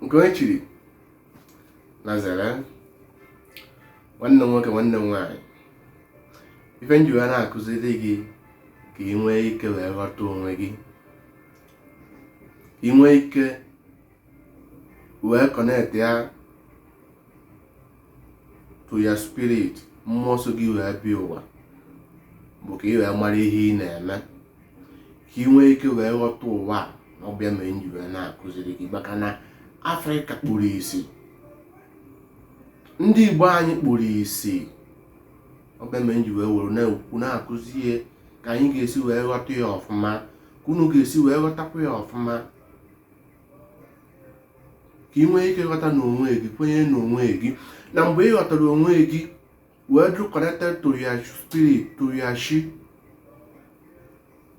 nke onye chiri na zere nwanne m nwoke nwanne m nwaanyị ife m ji wee na-akụziri gị ka ị nwee ike wee ghọta onwe gị ka ị nwee ike wee connect ya to your spirit mmụọ so gị wee bịa ụwa bụ ka ị wee mara ihe ị na-eme ka ị nwee ike wee ghọta ụwa a na ọ bụ ya mere m ji wee na-akụziri gị maka na afrịka kpuru isi ndị igbo anyị kpuru isi ọ bụ ya mere m ji wee were na-ekwu na-akụzi ihe ka anyị ga-esi wee ghọta ya ọfụma ka unu ga-esi wee ghọtakwa ya ọfụma ka ị nwee ike ghọta n'onwe gị kwenye n'onwe gị na mgbe ị ghọtara onwe gị wee dụ connected to your spirit to your chi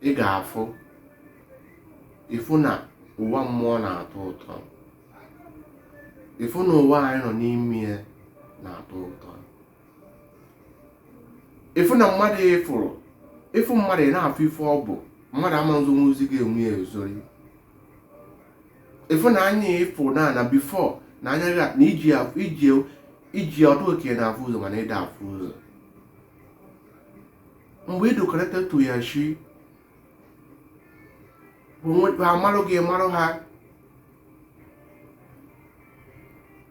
ị ga-afụ ị fụ na ụwa mmụọ na-atọ ụtọ ị fụ na ụwa anyị nọ n'ime ya na-atọ ụtọ ị fụ na mmadụ ị fụrụ ị fụ mmadụ ị na-afụ ife ọ bụ mmadụ ama nzonwuzi gị onwe ya ezori ị fụ na anya ị fụ na na before na anya gị na ị ji afụ ị ji ị ji ọ dụ ka ị na-afụ ụzọ mana ị da afụ ụzọ mgbe ị dụ connected to your chi ha marụ gị ị marụ ha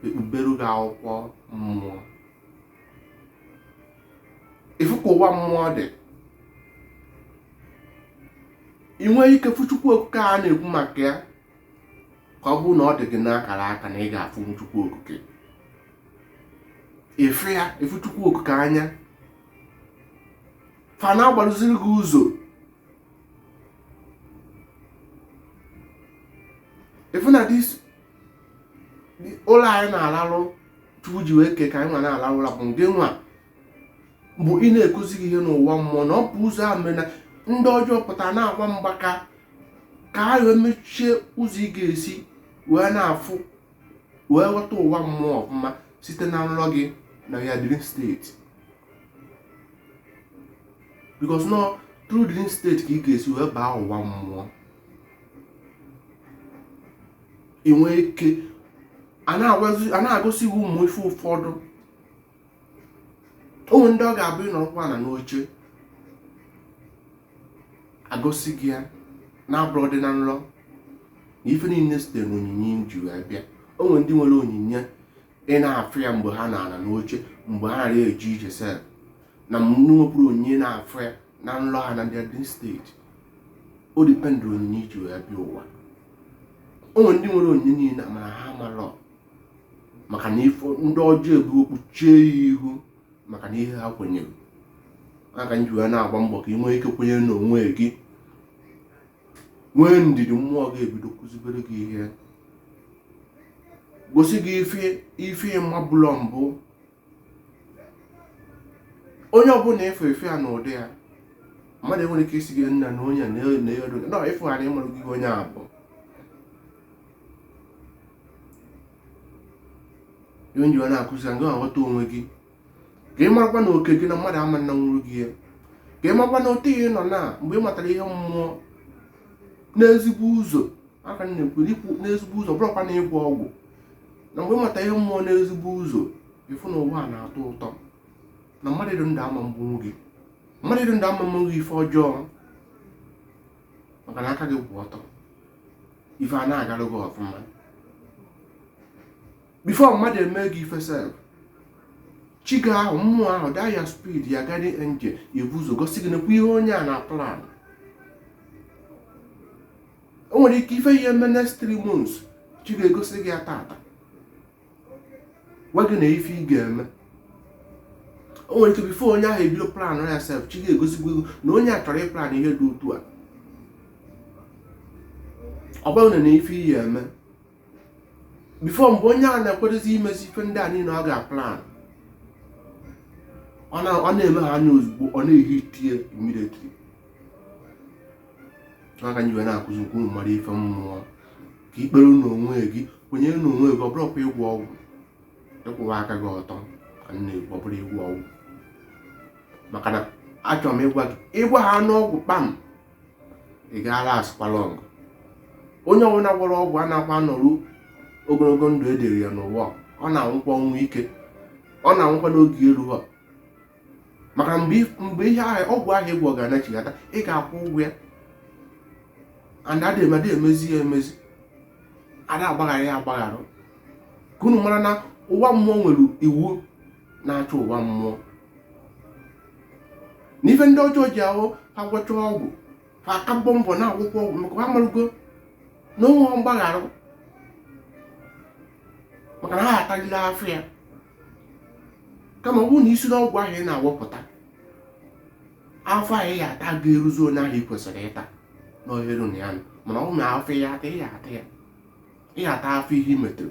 e kpubere gị akwụkwọ mmụọ ị fụ ka ụwa mmụọ dị ị nwee ike fụ chukwu okike a na-ekwu maka ya ka ọ bụrụ na ọ dị gị n'akara aka na ị ga-afụ chukwu okike ị fụ ya ị fụ chukwu okike anya fa na-agbalụziri gị ụzọ ị fụ na this ụla anyị na-alalụ chukwu ji wee kee ka anyị nwa na-alalụ ụla bụ nke nwa bụ ị na-ekuzi gị ihe n'ụwa mmụọ na ọ bụ ụzọ ahụ mere na ndị ọjọọ pụta na-agba mgbaka ka ha wee mechie ụzọ ị ga-esi wee na-afụ wee ghọta ụwa mmụọ ọfụma site na nrọ gị na your dream state because na ọ through dream state ka ị ga-esi wee baa ụwa mmụọ ị nwee ike a na-agosi gị ụmụ ife ụfọdụ o nwee ndị ọ ga-abụ ị nọrọkwa na n'oche a gosi gị ya na-abụrọdị na nrọ na ife niile site n'onyinye i ji wee bịa o nwee ndị nwere onyinye ị na-afụ ya mgbe ha na-anọ n'oche mgbe ha na-arị eje ije sef na ndị nwekwuru onyinye na-afụ ya na nlọ ha na-adị adị straight o depend onyinye i ji wee bịa ụwa o nwere ndị nwere onyinye niile mana ha amarọ maka na ife ndị ọjọọ ebu kpuchie ya ihu maka na ihe ha kwenyere maka nji wee na-agba mbọ ka ị nwee ike kwenye n'onwe gị nwee ndidi mmụọ ga-ebido kụzibere gị ihe gosi gị ife ị mabụlọ mbụ onye ọbụla ị fụ ị fụ ya n'ụdị ya mmadụ enwere ike isi gị nna na onye na-eyodo na ịfụgharị ịmarụ gị onye a bụ ihe nji wee na-akụzi ị ga-aghọta onwe gị ka ị marakwa na oke gị na mmadụ ama nanwu gị ya ka ị marakwa na otu ihe nọ na mgbe ị matara ihe mmụọ n'ezigbo ụzọ aka m na-ekwu ikwu n'ezigbo ụzọ ọ bụrọkwa na ịgwọ ọgwụ na mgbe ị mata ihe mmụọ n'ezigbo ụzọ ị fụ na ụwa na-atọ ụtọ na mmadụ dị ndụ ama gbunwu gị mmadụ dị ndụ ama menwu gị ife ọjọọ maka na aka gị kwụ ọtọ ife a na-agarụ gị ọfụma before mmadụ eme gị ife sef chi gị ahụ mmụọ ahụ that your spirit your guardian angel ebu ụzọ gosi gị nekwa ihe onye a na-aplan o nwere ike ife a ya-eme next three months chi ga-egosi gị ya tata gwa gị na ife ị ga-eme o nwere ike before onye ahụ ebido plan ya sef chi gị egosibugo gị na onye a chọrọ ịplan ihe dị otu a ọ bụrụ na ife ị ya-eme before mgbe onye a na-akwadozi imezi ife ndị a niile ọ ga-aplan ọ na-eme ha anya ozugbo ọ na-ehit ya immediately aka nji wee na-akụzi ka unu mara ife mmụọ ka i kpere n'onwe gị kwenye n'onwe gị ọ bụrọkwa ịgwọ ọgwụ ịkwụwa aka gị ọtọ ka m na-ekwu ọ bụrọ ịgwọ ọgwụ maka na achọrọ m ịgwa gị ị gwọhọ nụ ọgwụ kpam ị ga-alastkwa long onye ọbụla gwọrọ ọgwụ anakwa anọru ogologo ndụ e dere ya n'ụwa ọ na-anwụkwa ọnwụ ike ọ na-anwụkwa na oge eruhọ maka mgbe ihe ahụ ọgwụ ahụ ị gwọ ga-anachighata ị ga-akwụ ụgwọ ya and ada emeda emezi ya emezi ada agbaghara ya agbaghara ka unu mara na ụwa mmụọ nwere iwu na-achị ụwa mmụọ na ife ndị ọjọọ ji ahụ ha gwọcha ọgwụ ha aka mbọ mbọ na-agwọkwu ọgwụ maka ha marụgo na o nwehọ mgbaghara maka na ha atalịlị afụfụ ya kama ọ bụrụ na i si n'ọgwụ ahụ ị na-awepụta afụfụ ahụ ị ya-ata ga-eruzi onye ahụ ị kwesịrị ịta n'ohere na ya nọ mana ọ na afụfụ ị ya-ata ị ya-ata ya ị ga-ata afụfụ ihe i metarụ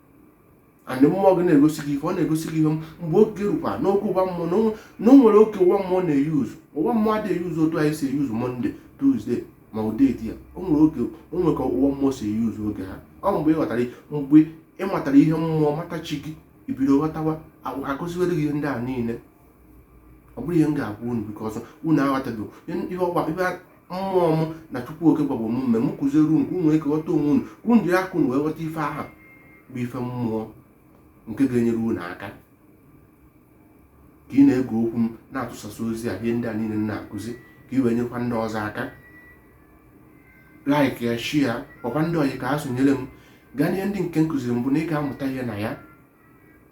and mmụọ gị na-egosi gị ihe ọ na-egosi gị ihe mgbe oge rukwa n'oge ụwa mmụọ na o nwere oge ụwa mmụọ na-eyuzu ụwa mmụọ adịghị eyuzu otu anyị si eyuzu monday tuesday ma ọ date ya o nwere oge o nwere ka ụwa mmụọ si eyuzu oge ha ọ mgbe ị ghọtara mgbe ị matara ihe mmụọ mata chi gị i bido ghọtawa akụziwere gị ihe ndị a niile ọ bụrụ ihe m ga-agwa unu because unu aghọtago ihe ọgba mmụọ m na chukwu oke gwakwa m mee m kụziere unu ka unu nwee ike ghọta onwe unu ka unu jiri aka unu wee ghọta ife ahụ bụ ife mmụọ nke ga-enyere unu aka ka ị na-ege okwu m na-atụsasị ozi a ihe ndị a niile m na-akụzi ka ị wee nyekwa ndị ọzọ aka like ya share gwakwa ndị ọyị ka ha sonyere m gaa n'ihe ndị nke m kụziri mbụ na ị ga-amụta ihe na ya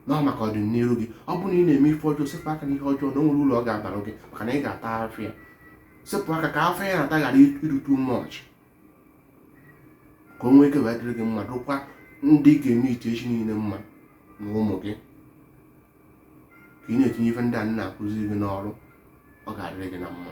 na ọ maka ọdịnihu gị ọ bụrụ na ị na-eme ife ọjọọ sepụ aka n'ihe ọjọọ na o nwerọ uru ọ ga-abara gị maka na ị ga-ata afụfụ ya sepụ aka ka afụfụ ị na-ata ghara ịdụ too much ka o nwee ike wee dịrị gị mma dụkwa ndị ị ga-emeet echi niile mma na ụmụ gị ka ị na-etinye ife ndị a na-akụziri gị n'ọrụ ọ ga-adịrị gị na mma